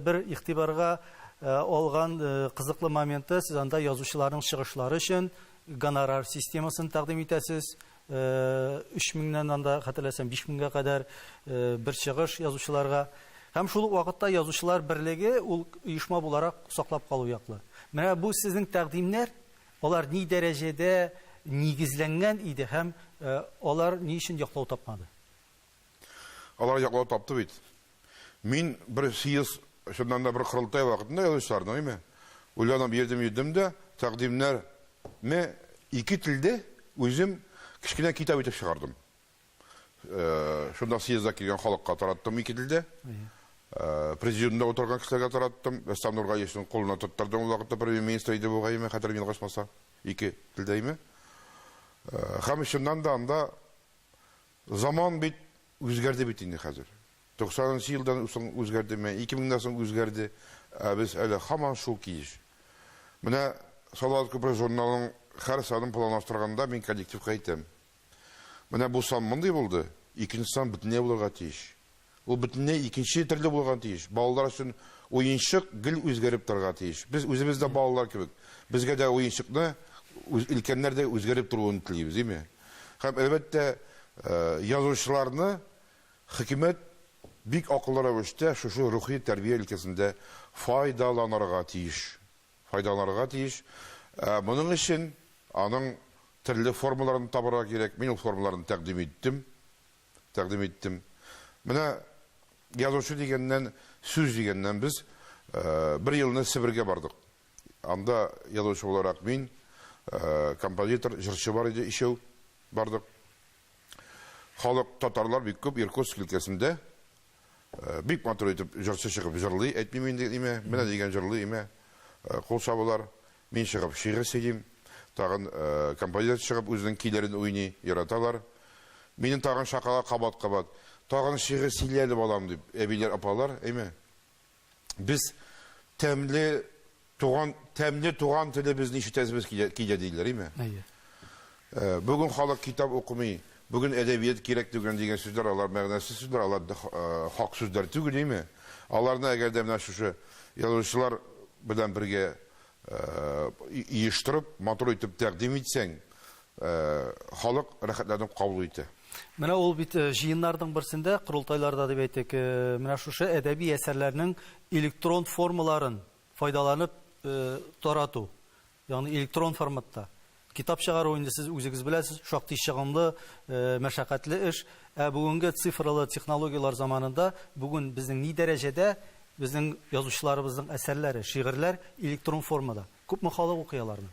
бер игътибарга алган кызыклы моменты, сез анда язучыларның чыгышлары өчен гонорар системасын тәкъдим итәсез, Өч меңнән анда, хәтерләсәм, биш меңгә кадәр бер чыгыш язучыларга. Һәм шул ук вакытта Язучылар берлеге ул оешма буларак саклап калу яклы. Менә бу сезнең тәкъдимнәр, алар ни дәрәҗәдә нигезләнгән иде һәм алар ни өчен яклау тапмады? Алар яклау тапты бит. Мин бер съезд, чыннан да бер корылтай вакытында язучыларның, әйме, уйланып йөрдем-йөрдем дә, тәкъдимнәрне ике телдә үзем кечкенә китап итеп чыгардым. Шунда съездда килгән халыкка тараттым ике телдә. Президиумда утырган кешеләргә тараттым. Рөстәм Нургалиевның кулына тоттырдым ул вакытта премьер-министр иде бу гайме, хәтерем ялгышмаса, ике телдә әйме. Һәм чыннан да анда Заман бит үзгәрде бит инде хәзер. Туксанынчы елдан соң үзгәрде, менә ике меңнән соң үзгәрде, ә без әле һаман шул килеш. Менә Салават күпере журналының һәр санын планлаштырганда мин коллективка әйтәм, менә бу сан мондый булды, икенче сан бөтенләй булырга тиеш. Ул бөтенләй икенче төрле булырга тиеш. Балалар өчен уенчык гел үзгәреп торырга тиеш. Без үзебез дә балалар кебек. Безгә дә уенчыкны өлкәннәр дә үзгәреп торуын телибез, дими. Һәм, әлбәттә, язучыларны хөкүмәт бик акыллы рәвештә шушы рухи тәрбия өлкәсендә файдаланырга тиеш. Файдаланырга тиеш. Ә моның өчен аның төрле формаларын табарга кирәк. Мин ул формаларны тәкъдим иттем. тәкъдим иттем. Менә язучы дигәннән, сүз дигәннән без бер елны Себергә бардык. Анда язучы буларак мин, композитор, җырчы бар иде ишәү бардык. Халык татарлар бик күп Иркутск өлкәсендә Э, бик матур итеп җырчы чыгып җырлый, әйтмим инде нимә, менә дигән җырлый имә. Э, кул чабулар. Мин чыгып шигырь сөйлим. Тагын э, композитор чыгып үзенең көйләрен уйный, яраталар. Минем тагын шакала кабат-кабат. Тагын шигырь сөйләде балам дип, әбиләр, апалар, әйме? без тәмле туган тәмле туган телебезне ишетәсебез килә, килә диләр, име? Әйе. Э, бүген халык китап укымый, бүген әдәбият кирәк түгел дигән сүзләр алар мәгънәсез сүзләр, алар э, хак сүзләр түгел, име? Аларны әгәр дә менә шушы язучылар белән бергә Оештырып, матур итеп тәкъдим итсәң, халык рәхәтләнеп кабул итә. Менә ул бит җыеннарның берсендә, корылтайларда дип әйтик, менә шушы әдәби әсәрләрнең электрон формаларын файдаланып тарату, ягъни электрон форматта. Китап чыгару, инде сез үзегез беләсез, шактый чыгымлы, мәшәкатьле эш. Ә бүгенге цифралы технологияләр заманында бүген безнең ни дәрәҗәдә безнең язучыларыбызның әсәрләре, шигырьләр электрон формада? Күпме халык укый аларны?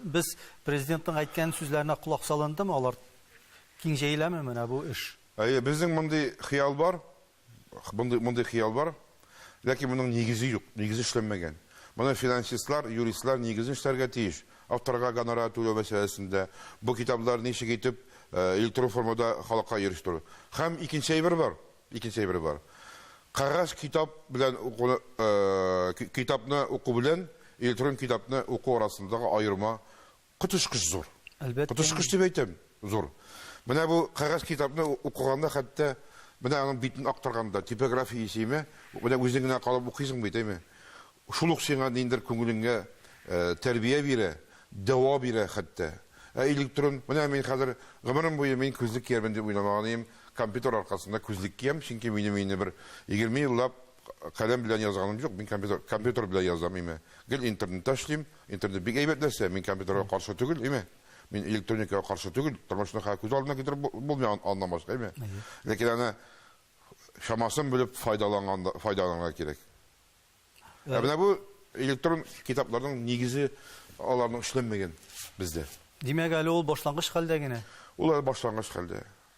Без Президентның әйткән сүзләренә колак салындымы, алар киң җәеләме менә бу эш? Әйе, безнең мондый хыял бар. Мондый, мондый хыял бар, ләкин моның нигезе юк, нигезе эшләнмәгән. Моны финансистлар, юристлар нигезен эшләргә тиеш. Авторга гонорар түләү мәсьәләсендә, бу китаплар ничек итеп электрон формада халыкка ирештерү. Һәм икенче әйбер бар, икенче әйбер бар. Кәгазь китап белән укуны, китапны уку белән электрон китапны уку арасындагы аерма Коточкыч зур. Әлбәттә. Коточкыч дип әйтәм, зур. Менә бу кәгазь китапны укыганда хәтта менә аның битен актарганда, типография исеме, менә үзең генә калып укыйсың бит, әйме? Шул ук сиңа ниндер күңелеңгә тәрбия бирә, дәва бирә хәтта. Ә электрон, менә мин хәзер гомерем буе мин күзлек киярмен дип уйламаган идем, компьютер аркасында күзлек киям, чөнки минем инде бер егерме еллап Каләм белән язганым юк, мин компьютер, компьютер белән язам, име. Гел интернетта эшлим, интернет бик әйбәт нәрсә, мин компьютерга каршы түгел, име. Мин электроникага каршы түгел, тормышны хәл күз алдына китереп бу- булмый ан- аннан башка, име. Ләкин аны чамасын белеп файдаланганда, файдаланырга кирәк. Ә менә бу электрон китапларның нигезе аларның эшләнмәгән бездә. Димәк, әле ул башлангыч хәлдә генә. Ул әле башлангыч хәлдә.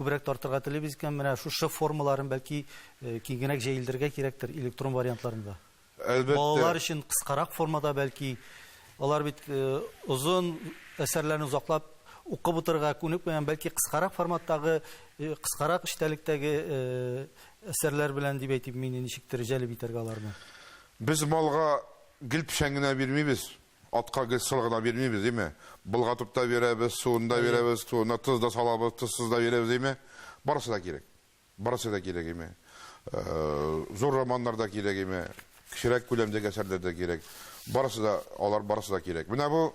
Күбрәк тартырга телибез икән, менә шу Ш формаларын бәлки киңгенәк җәелдерергә кирәктер электрон вариантларында. Әлбәттә. Балалар өчен кыскарак формада бәлки. Алар бит озын әсәрләрне озаклап укып утырырга күнекмәгән, бәлки кыскарак форматтагы, кыскарак эчтәлектәге әсәрләр белән дип әйтим мин, ничектер җәлеп итәргә аларны. Без малга гел печән генә бирмибез. Атка гел соры гына бирмибез, дими. Болгатып та бирәбез, суын да бирәбез, суына тоз да салабыз, тозсыз да бирәбез, дими. Барысы да кирәк. Барысы да кирәк, дими. Зур романнар да кирәк, дими. Кечерәк күләмдәге әсәрләр дә кирәк. Барысы да, алар барысы да кирәк. Менә бу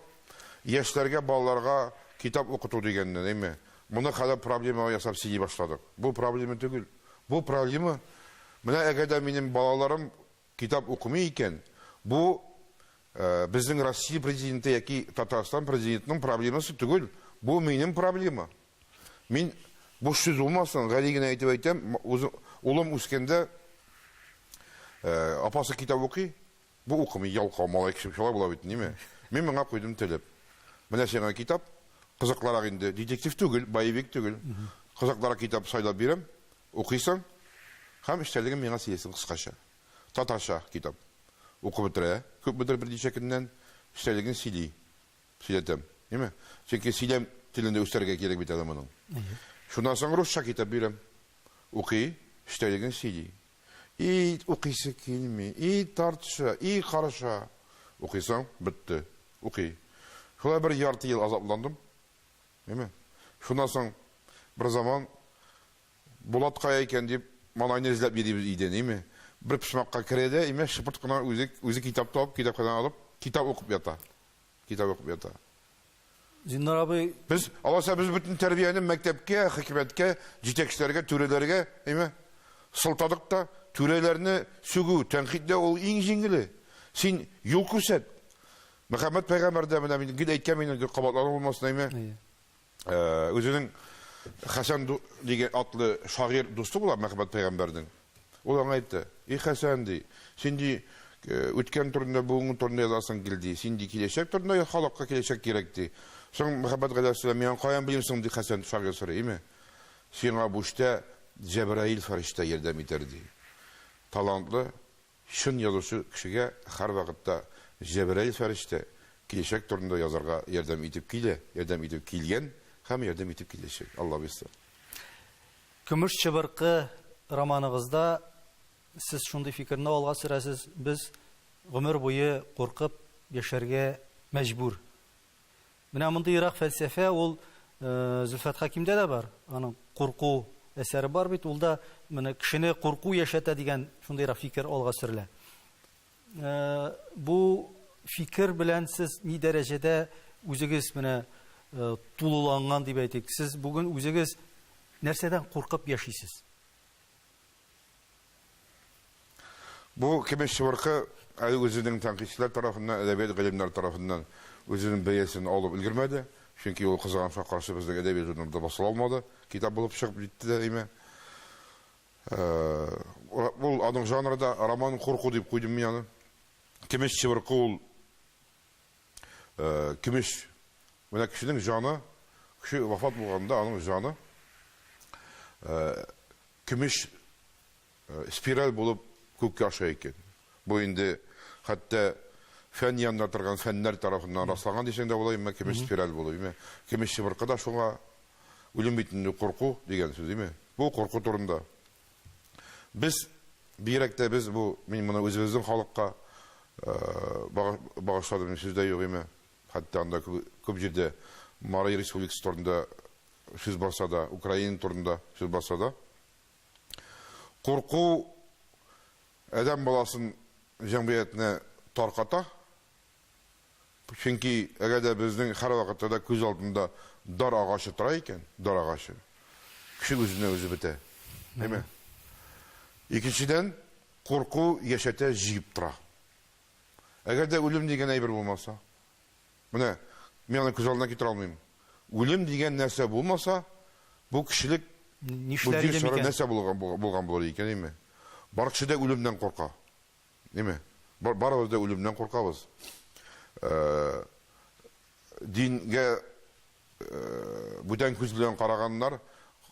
яшьләргә, балаларга китап укыту дигәнне, дими. Моны хәзер проблема ясап сөйли башладык. Бу проблема түгел. Бу проблема, менә әгәр дә минем балаларым Китап укымый икән, бу безнең Россия президенты яки Татарстан президентының проблемасы түгел, бу минем проблема. Мин буш сүз булмасын, гади генә әйтеп әйтәм, улым үскәндә апасы китап укый, бу укымый, ялкау малай кеше шулай була бит ниме. Мин моңа куйдым телеп. Менә сиңа китап, кызыклырак инде, детектив түгел, боевик түгел. Кызыклырак китап сайлап бирәм. Укыйсың һәм эчтәлеген миңа сөйлисең кыскача. Татарча китап. Укып бетерә, күпмедер берничә көннән эчтәлеген сөйли. Сөйләтәм. Әйме? Чөнки сөйләм телен дә үстерергә кирәк бит әле моның. Шуннан соң русча китап бирәм. Укый, эчтәлеген сөйли. И укыйсы килми, и тартыша, и карыша. Укыйсың, бетте. Укый. Шулай бер ярты ел азапландым. Әйме? Шуннан соң бер заман Булат кая икән дип малайны эзләп йөрибез өйдән, әйме? Бер почмакка керә дә, әйме, шыпырт кына үзе, үзе китап табып, китапханәдән алып, китап укып ята. Китап укып ята. Зиннар абый... Без, алайса, без бөтен тәрбияне мәктәпкә, хикмәткә, җитәкчеләргә, түрәләргә, әйме, сылтадык та, түрәләрне сүгү, тәнкыйтьләү ул иң җиңеле. Син юл күрсәт. Мөхәммәд пәйгамбәр дә менә мин гел әйткән мин инде кабатлану булмасын әйме. Э, Үзенең Хәсән дигән атлы шагыйрь дусты була Мөхәммәд пәйгамбәрнең. Ул аңа әйтте: "И Хәсән ди, син ди э, үткән турында, бүгенге турында язасың кил ди. Син ди киләчәк турында яз, халыкка киләчәк кирәк ди. Соң Мөхәммәд галәйһиссәлам, миңа каян белим соң ди Хәсән шагыйрь сорый, име? Сиңа буштә Җәбраил фәрештә ярдәм итәр ди. Талантлы Чын язучы кешегә һәрвакытта Җәбраил фәрештә киләчәк турында язарга ярдәм итеп килә, ярдәм итеп килгән һәм ярдәм итеп киләчәк. Алла бирса. Көмеш чыбыркы романыгызда сез шундый фикерне алга сөрәсез, без гомер буе куркып яшәргә мәҗбүр. Менә мондый ерак фәлсәфә ул Зөлфәт Хәкимдә дә бар. Аның Курку әсәре бар бит, ул да менә кешене курку яшәтә дигән шундыйрак фикер алга сөрелә. Бу фикер белән сез ни дәрәҗәдә үзегез менә тулыланган дип әйтик? Сез бүген үзегез нәрсәдән куркып яшисез? Бу көмеш чыбыркы әле үзенең тәнкыйтьчеләр тарафыннан, әдәбият галимнәре тарафыннан үзенең бәясен алып өлгермәде, чөнки ул кызганычка каршы безнең әдәби журналда басыла алмады, китап булып чыгып җитте дә имә. Ул, аның жанры да роман курку дип куйдым мин аны. Көмеш чыбыркы ул көмеш, менә кешенең җаны, кеше вафат булганда аның җаны Көмеш спираль булып күккә аша икән. Бу инде хәтта фән янында торган фәннәр тарафыннан расланган дисәң дә була, имма көмеш спираль булу, имма көмеш чыбыркы да шуңа, үлем бит инде курку дигән сүз, имма бу курку турында. Без, бигрәк тә без бу, мин моны үзебезнең халыкка багышладым, сүз дә юк, имма хәтта анда күп җирдә Марий республикасы турында сүз барса да, Украина турында сүз барса да, курку адәм баласын, җәмгыятьне тарката. Чөнки әгәр дә безнең һәрвакытта да күз алдында дар агачы тора икән, дар агачы, кеше үзенә үзе бетә. Әйме? Икенчедән, курку яшәтә, җиеп тора. Әгәр дә үлем дигән әйбер булмаса, Менә мин аны күз алдына китерә алмыйм. Үлем дигән нәрсә булмаса, бу кешелек бу җир шары нәрсә булган булыр икән, әйме? Бар кеше дә үлемнән курка. Әйме? Барыбыз да үлемнән куркабыз. Дингә Бүтән күз белән караганнар,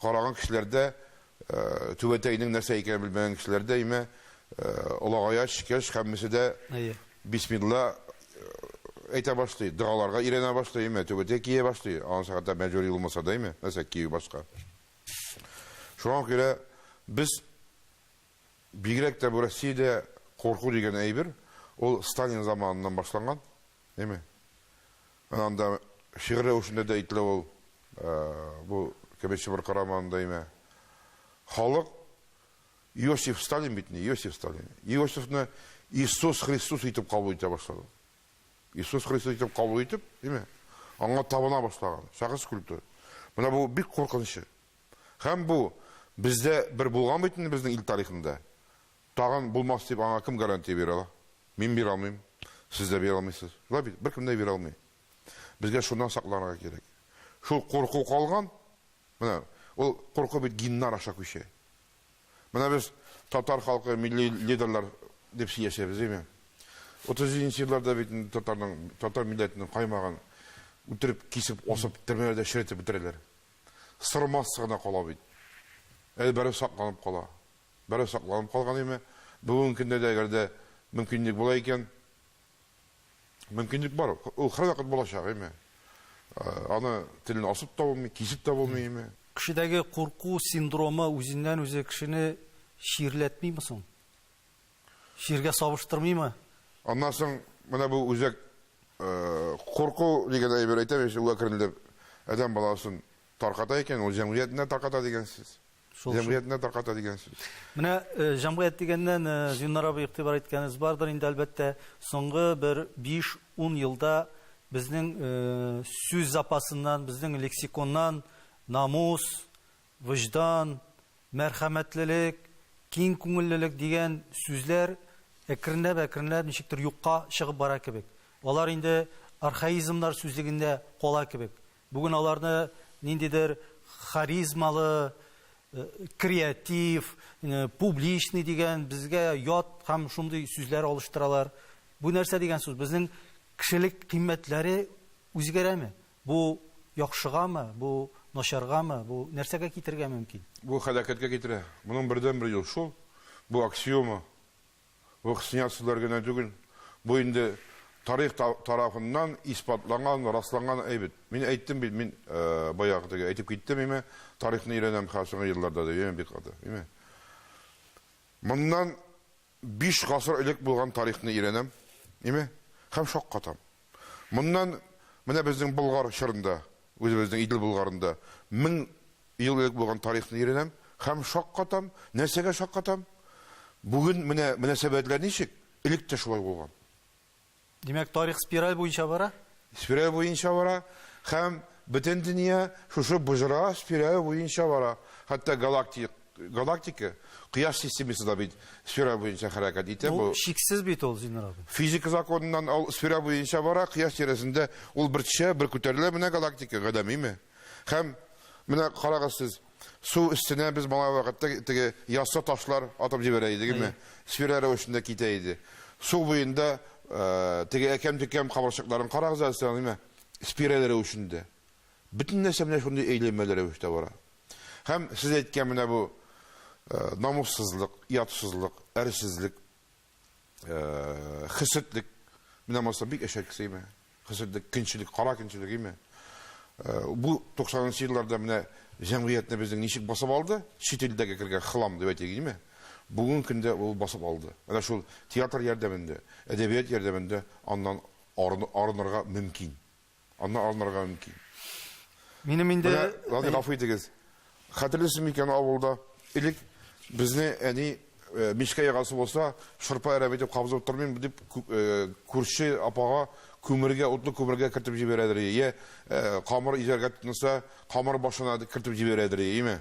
караган кешеләр дә, түбәтәйнең нәрсә икәнен белмәгән кешеләр дә, имә, олагая төшкәч, һәммәсе дә бисмилла әйтә башлый, догаларга өйрәнә башлый, имә, түбәтәй кия башлый, анысы хәтта мәҗбүри булмаса да, имә, нәрсә кию башка. Шуңа күрә без бигрәк тә бу Россиядә курку дигән әйбер, ул Сталин заманыннан башланган. Әйме. Менә анда шигырь рәвешендә дә әйтелә ул, бу Кәбәй Чыбыркы романында, әйме. Халык Иосиф Сталин бит инде, Иосиф Сталин. Иосифны Иисус Христос итеп кабул итә башлады. Иисус Христос итеп кабул итеп, әйме. Аңа табына башлаган. Шәхес культы. Менә бу бик куркынычы. Һәм бу бездә бер булган бит инде безнең ил тарихында. Тагын булмас дип аңа кем гарантия бирә ала? Мин бирә алмыйм, сез дә бирә алмыйсыз. Шулай бит, беркем дә бирә алмый. Безгә шуннан сакланырга кирәк. Шул курку калган, менә ул курку бит геннар аша күчә. Менә без татар халкы милли лидерлар дип сөйләшәбез, әйме? Утыз җиденче елларда бит инде татарның, татар милләтенең каймагын үтереп, кисеп, асып, төрмәләрдә черетеп бетерәләр. Сырмасы гына кала бит. Әле бары сакланып кала. Бераз сакланып калган име? Бүгенге көндә дә әгәр дә мөмкинлек була икән, мөмкинлек бар, ул һәрвакыт булачак име? Аны телне асып та булмый, кисеп тә булмый име? Кешедәге курку синдромы үзеннән-үзе кешене чирләтмиме соң? Чиргә сабыштырмыймы? Аннан соң менә бу үзәк курку дигән әйбер әйтәм, әкренләп адәм баласын тарката икән, ул җәмгыятьне дә тарката дигән сүз. Шул, җәмгыятенә тарката дигән сүз. Менә э, җәмгыять дигәннән э, Зиннар абый игътибар иткәнегез бардыр инде әлбәттә. Соңгы бер 5-10 елда безнең э, сүз запасыннан, безнең лексиконнан намус, вөҗдан, мәрхәмәтлелек, киң күңеллелек дигән сүзләр әкренләп-әкренләп ничектер юкка чыгып бара кебек. Алар инде архаизмнар сүзлегендә кала кебек. Бүген аларны ниндидер харизмалы, креатив, публичный дигән безгә ят һәм шундый сүзләр алыштыралар. Бу нәрсә дигән сүз? Безнең кешелек кыйммәтләре үзгәрәме? Бу яхшыгамы, бу начаргамы, бу нәрсәгә китергә мөмкин? Бу һәлакәткә китерә. Моның бердәнбер юл шул, бу аксиома, Бу хсня сүзләр генә түгел, бу инде тарих тарафыннан исбатланган, расланган әйбет. Мин әйттем бит, мин баягы теге әйтеп киттем, име, тарихны өйрәнәм хәзер соңгы елларда дип, име, бик каты, име. Моннан биш гасыр элек булган тарихны өйрәнәм, име, һәм шаккатам. Моннан менә безнең Болгар чорында, үзебезнең Идел Болгарында 1000 ел элек булган тарихны өйрәнәм һәм шаккатам. Нәрсәгә шаккатам? Бүген менә мөнәсәбәтләр ничек, элек тә шулай булган. Димәк, тарих спираль буенча бара? Спираль буенча бара һәм бөтен дөнья шушы боҗра спираль буенча бара. Хәтта галактик Галактика Кояш системасы да бит сфера буенча хәрәкәт итә. Бу чиксез бит ул, Зиннур абый. Физика законыннан ул сфера буенча бара, Кояш тирәсендә ул бер төшә, бер күтәрелә, менә галактика, гадәмиме? Һәм менә карагыз сез, су өстенә без малай вакытта теге яссы ташлар атып җибәрә идегме, сфера рәвешендә китә иде. Су буенда теге әкәм-төкәм кабырчыкларын карагыз әле, сәламиме? Спираль рәвешендә. Бөтен нәрсә менә шундый әйләнмәле рәвештә бара. Һәм сез әйткән менә бу намуссызлык, ятсызлык, әрсезлек, хеседлек, менә монысы бик әшәке сыймы? Хеседлек, көнчелек, кара көнчелек, име? Бу 90 нчы елларда менә җәмгыятьне безнең ничек басып алды? Чит илдәге кергән хлам дип әйтик, име? Бүгенге көндә ул басып алды. Менә шул театр ярдәмендә, әдәбият ярдәмендә аннан арынырга мөмкин. Аннан алынырга мөмкин. Минем инде... Менә, Радий, гафу итегез. Хәтерлисез микән авылда? Элек безне әни э, мичкә ягасы булса, шырпа әрәп итеп кабызып тормыйм дип э, күрше апага күмергә, утлы күмергә кертеп җибәрәдер. Йә э, камыр изәргә тотынса, камыр башына кертеп җибәрәдер, име?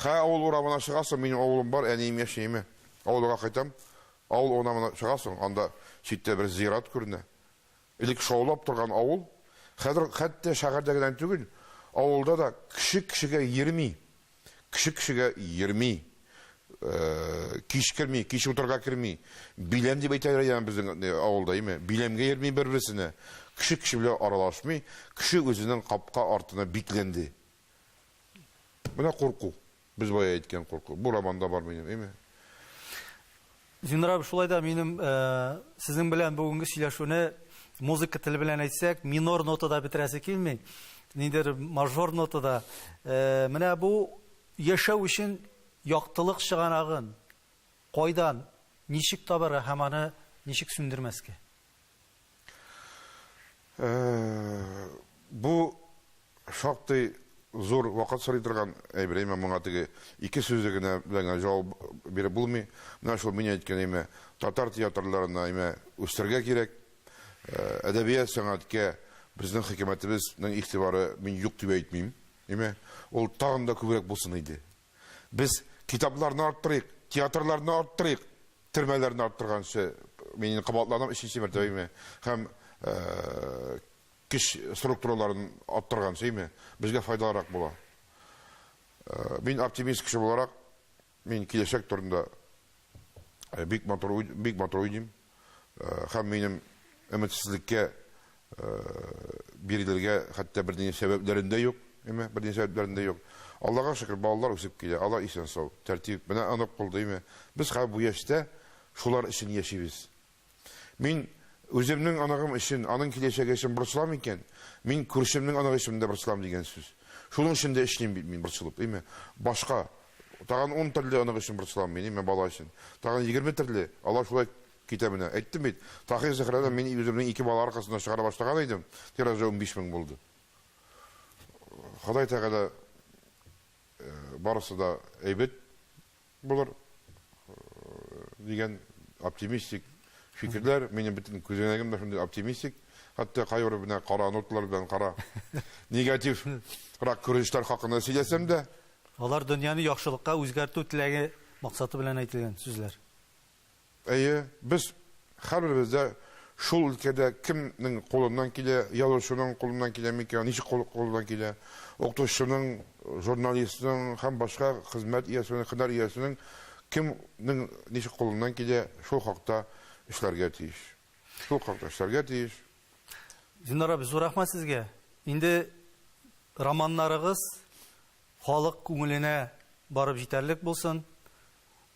Хә авыл урамына чыгасың, минем авылым бар, әнием яши, име? Авылга кайтам. Авыл урамына чыгасың, анда читтә бер зират күренә. Элек шаулап торган авыл, хәзер хәтта шәһәрдә генә түгел, авылда да кеше кешегә йөрми, кеше кешегә йөрми, кич керми, кич утарга керми. Биләм дип әйтәләр иде аны безнең авылда, име, биләмгә йөрми бер-берсенә, кеше кеше белән аралашмый, кеше үзенең капка артына бикләнде. Менә курку. Без бая әйткән курку. Бу романда бар минем, әйме? Зиннур абый, шулай да минем сезнең белән бүгенге сөйләшүне музыка теле белән әйтсәк, минор нотада бетерәсе килми. Ниндидер мажор нотада. Менә бу яшәү өчен яктылык чыганагын кайдан, ничек табарга һәм аны ничек сүндермәскә? Бу шактый зур вакыт сорый торган әйбер, әмма моңа теге ике сүзе генә белән генә җавап биреп булмый. Менә шул мин әйткән, әмма татар театрларына, әмма үстерергә кирәк. Әдәбият, сәнгатькә безнең хөкүмәтебезнең игътибары мин юк дип әйтмим. Әмма ул тагын да күбрәк булсын иде. Без китапларны арттырыйк, театрларны арттырыйк! Төрмәләрне арттырганчы, мин инде кабатланам, өченче мәртәбә име, һәм көч структураларын арттырганчы име, безгә файдалырак була. Мин оптимист кеше буларак, мин киләчәк турында бик матур уйлыйм һәм минем өметсезлеккә Бирелергә хәтта бернинди сәбәпләрем дә юк, әйме, бернинди сәбәпләрем дә юк. Аллага шөкер, балалар үсеп килә, алар исән-сау, тәртип, менә онык булды, әйме. Без хәзер бу яшьтә шулар өчен яшибез. Мин үземнең оныгым өчен, аның киләчәге өчен борчылам икән, мин күршемнең оныгы өчен дә борчылам дигән сүз. Шуның өчен дә эшлим бит мин борчылып, әйме. Башка, тагын ун төрле онык өчен борчылам мин, әйме, бала өчен. Тагын егерме төрле, алар шулай Китә менә. Әйттем бит, Таһир Зөһрәне мин үземнең ике бала аркасында чыгара башлаган идем, тиражы унбиш мең булды. Ходай Тәгалә барысы да әйбәт булыр дигән оптимистик фикерләр, минем бөтен күзәнәгем дә шундый оптимистик, хәтта кайбер менә кара нотлар белән кара негатив рак күренешләр хакында сөйләсәм дә. Алар дөньяны яхшылыкка үзгәртү теләге максаты белән әйтелгән сүзләр. Әйе, без һәрберебез дә шул өлкәдә кемнең кулыннан килә, язучының кулыннан киләме икән, ничек кулыннан килә, укытучының, журналистның һәм башка хезмәт иясенең, һөнәр иясенең кемнең ничек кулыннан килә, шул хакта эшләргә тиеш. Шул хакта эшләргә тиеш. Зиннар абый, зур рәхмәт сезгә. Инде романнарыгыз халык күңеленә барып җитәрлек булсын.